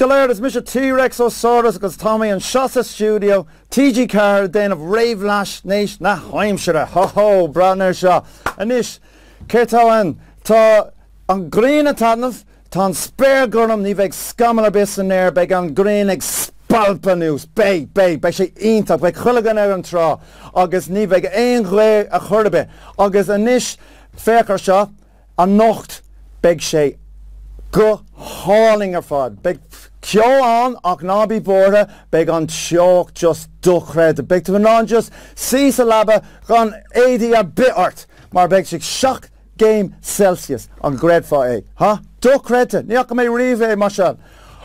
go léir, is mise T-Rex Ó Saurus agus tá mé anseo sa stiúideo TG4 ag déanamh réamhaisnéis na haimsire. Ho ho, breathnaigh air seo. Anois, céard atá ann? Tá an ghrian ag taitneamh, tá an spéir gorm, ní bheidh scamall ar bith san aer, beidh an ghrian ag spalpadh anuas, beidh, beidh, beidh sé iontach, beidh chuile dhuine ar an trá agus ní bheidh aon ghaoth ar chor ar bith. Agus anois, féach air seo. Anocht beidh sé go hálainn ar fad. Beidh ceo ann ach ná bí buartha, beidh an teocht just dochreidte. Beidh tú in ann just suí sa leaba gan éadaí ar bith ort mar beidh sé seacht gcéim Celsius, an gcreidfeá é? Huh? Dochreidte! Ní fhaca mé riamh é mar seo.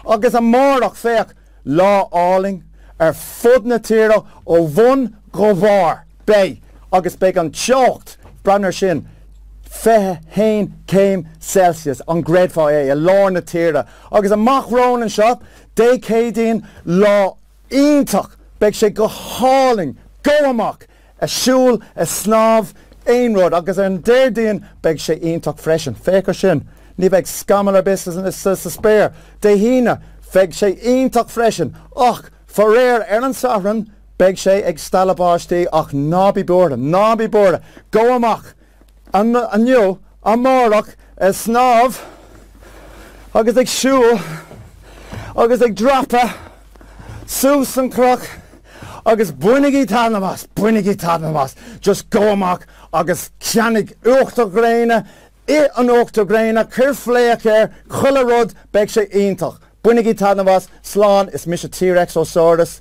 Agus amárach, féach! Lá álainn ar fud na tíre ó bhun go bharr. Beidh agus beidh an teocht, breathnaigh air sin, 21 céim Celsius, an gcreidfeá é, i lár na tíre. Agus amach romhainn anseo, Dé Céadaoin, lá iontach. Beidh sé go hálainn, gabh amach! ag siúl, ag snámh, aon rud, agus ar an Déardaoin beidh sé iontach freisin, féach air sin, ní bheidh scamall ar bith sa spéir, Dé hAoine beidh sé iontach freisin, ach faraor ar an Satharn beidh sé ag stealladh báistí, ach ná bí buartha, ná bí buartha, gabh amach inniu, amárach, ag snámh agus ag siúl agus ag dreapadh suas an cnoc agus bainigí taitneamh as, bainigí taitneamh as, just gabh amach agus ceannaigh uachtar gréine, ith an uachtar gréine, cuir fléac air, chuile rud, beidh sé iontach. Bainigí taitneamh as, slán, is mise T-Rex Ó Saurus.